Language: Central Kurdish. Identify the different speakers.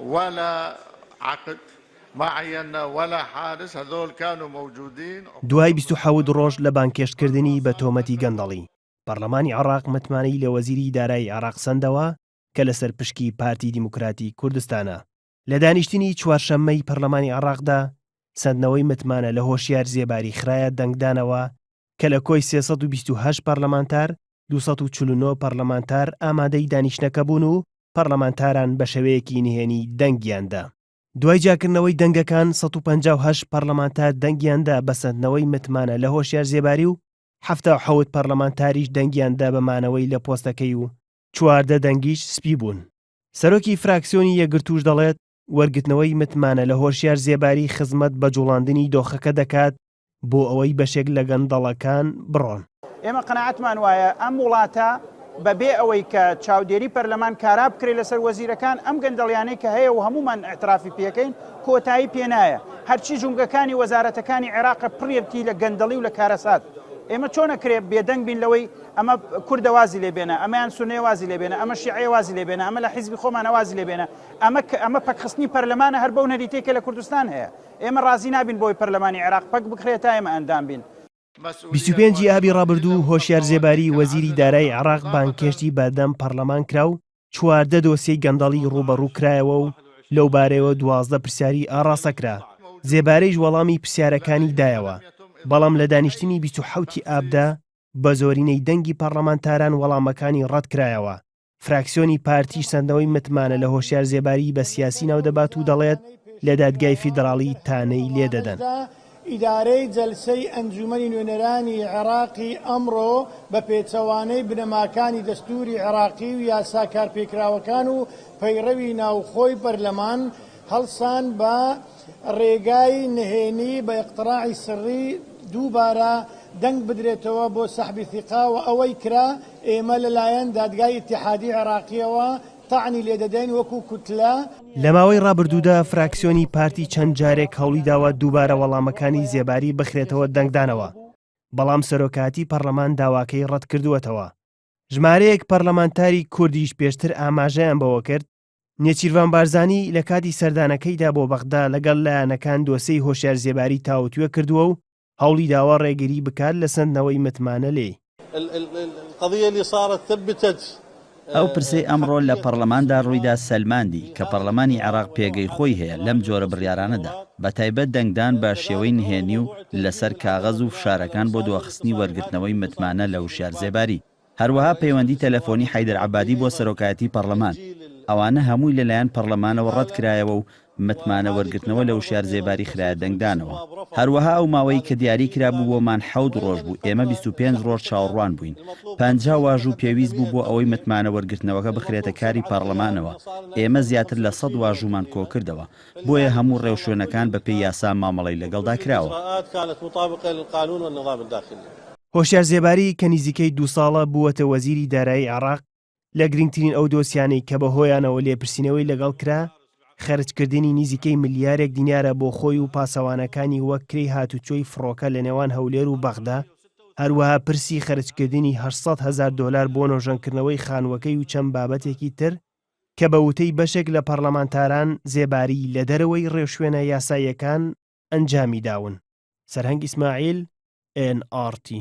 Speaker 1: ولا عقد ما عينا ولا حارس هذول كانوا موجودين. دوای بیست و حەوت
Speaker 2: ڕۆژ لە بانگهێشتکردنی بە تۆمەتی گەندەڵی، پەڕلەمانی عێڕاق متمانەی لە وەزیری دارایی عێڕاق سەندەوە کە لە سەر پشکی پارتی دیموکراتی کوردستانە. لە دانیشتنی چوارشەممەی پەڕلەمانی عێڕاقدا سەندنەوەی متمانە لە هۆشیار زێباری خرایە دەنگدانەوە کە لە کۆی سێ سەد و بیست و هەشت پەڕلەمانتار، دوو سەد و چل و نۆ پەڕلەمانتار ئامادەی دانیشتنەکە بوون و پەڕلەمانتاران بە شێوەیەکی نهێنی دەنگیان دا. دوای جیاکردنەوەی دەنگەکان، سەد و پەنجا و هەشت پەڕلەمانتار دەنگیان دا بە سەندنەوەی متمانە لە هۆشیار زێباری و حەفتا و حەوت پەڕلەمانتاریش دەنگیان دا بە مانەوەی لە پۆستەکەی و چواردە دەنگیش سپی بوون. سەرۆکی فراکسیۆنی یەکگرتووش دەڵێت، وەرگرتنەوەی متمانە لە هۆشیار زێباری خزمەت بە جوڵاندنی دۆخەکە دەکات بۆ ئەوەی بەشێک لە گەندەڵەکان بڕۆن. ئێمە قەناعەتمان
Speaker 3: وایە ئەم وڵاتە بە بێ ئەوەی کە چاودێری پەرلەمان کارا بکرێت لەسەر وەزیرەکان ئەم گەندەڵیانەی کە هەیە و هەموومان ئیعترافی پێکەین کۆتایی پێ نایە هەرچی جومگەکانی وەزارەتەکانی عێراقە پڕیەتی لە گەندەڵی و لە کارەسات ئێمە چۆنە کرێ بێدەنگ بین لەوەی ئەمە کوردە وازی لێبێنە ئەمەیان سونێ وازی لێبێنە ئەمە شیعێ وازی لێبێنە ئەمە لە حیزبی خۆمانە وازی لێبێنە ئەمە کە ئەمە پەکخستنی پەرلەمانە هەر بەو نەریتەی کە لە کوردستان هەیە. ئێمە ڕازی نابین بۆی پەرلەمانی عێراق پەک بکرێت تا ئێمە ئەندام بین. بیست و پێنج
Speaker 2: ی ئابی ڕابردوو هۆشیار زێباری وەزیری دارای عێراق بانگهێشتی بەردەم پەڕلەمان کرا و چواردە دۆسیەی گەندەڵی ڕووبەڕوو کرایەوە و لەو بارەیەوە دوازدە پرسیاری ئاڕاستە کرا، زێباریش وەڵامی پرسیارەکانی دایەوە، بەڵام لە دانیشتنی بیست و حەوت ی ئابدا بە زۆرینەی دەنگی پەڕلەمانتاران وەڵامەکانی ڕەت کرایەوە. فراکسیۆنی پارتیش سەندنەوەی متمانە لە هۆشیار زێباری بە سیاسی ناو دەبات و دەڵێت لە دادگای فیدراڵی تانەی لێ دەدەن. ئیدارەی
Speaker 4: جەلسەی ئەنجومەنی نوێنەرانی عێراقی ئەمڕۆ بە پێچەوانەی بنەماکانی دەستوری عێراقی و یاسا کارپێکراوەکان و پەیڕەوی ناوخۆی پەرلەمان، هەڵسان بە ڕێگای نهێنی بە اقتراعی سڕی دووبارە دەنگ بدرێتەوە بۆ سحب ثقە و ئەوەی کرا ئێمە لەلایەن دادگای ئیتیحادی عێراقییەوە تەعنی لێ دەدەین وەکو کوتلە. لە ماوەی
Speaker 2: ڕابردوودا فراکسیۆنی پارتی چەند جارێک هەوڵی داوە دووبارە وەڵامەکانی زێباری بخرێتەوە دەنگدانەوە، بەڵام سەرۆکایەتی پەڕلەمان داواکەی ڕەتکردووەتەوە. ژمارەیەک پەرلەمانتاری کوردیش پێشتر ئاماژەیان بەوە کرد، نێچیرڤان بارزانی لە کاتی سەردانەکەیدا بۆ بەغدا لەگەڵ لایەنەکان دۆسێی هۆشیار زێباری تاوتوێ کردووە و هەوڵی داوە ڕێگری بکات لە سەندنەوەی متمانە لێی.
Speaker 5: ئەو پرسەی ئەمڕۆ لە پەڕڵەماندا ڕوویدا سەلماندی کە پەڕڵەمانی عێڕاق پێگەی خۆی هەیە لەم جۆرە بڕیارانەدا، بە تایبەت دەنگدان بە شێوەی نهێنی و لەسەر کاغەز و فشارەکان بۆ دواخستنی وەرگرتنەوەی متمانە لە هوشیار زێباری. هەروەها پەیوەندی تەلەفۆنی حەیدەر عەبادی بۆ سەرۆکایەتی پەڕلەمان، ئەوانە هەمووی لەلایەن پەڕلەمانەوە ڕەت کرایەوە و متمانە وەرگرتنەوە لە وشیار زێباری خرایە دەنگدانەوە. هەروەها ئەو ماوەی کە دیاری کرابوو بۆمان حەوت ڕۆژ بوو، ئێمە بیست و پێنج ڕۆژ چاوەڕوان بووین. پەنجا واژوو پێویست بوو بۆ ئەوەی متمانە وەرگرتنەوەکە بخرێتە کاری پەڕلەمانەوە، ئێمە زیاتر لە سەد واژوومان کۆکردەوە، بۆیە هەموو ڕێوشوێنەکان بەپێی یاسا مامەڵەی لەگەڵدا کراوە.
Speaker 2: هۆشیار زێباری کە نزیکەی دوو ساڵە بووەتە وەزیری دارایی عێراق، لە گرنگترین ئەو دۆسیانەی کە بەهۆیانەوە لێپرسینەوەی لەگەڵ کرا، خەرجکردنی نزیکەی ملیارێک دینارە بۆ خۆی و پاسەوانەکانی وەک کرێی هاتوچۆی فڕۆکە لە نێوان هەولێر و بەغدا، هەروەها پرسی خەرجکردنی هەشت سەد هەزار دۆلار بۆ نۆژەنکردنەوەی خانووەکەی و چەند بابەتێکی تر کە بە وتەی بەشێک لە پەرلەمانتاران زێباری لە دەرەوەی ڕێوشوێنە یاساییەکان ئەنجامیداون. سەرهەنگ ئیسماعیل، ئێن ئاڕ تی.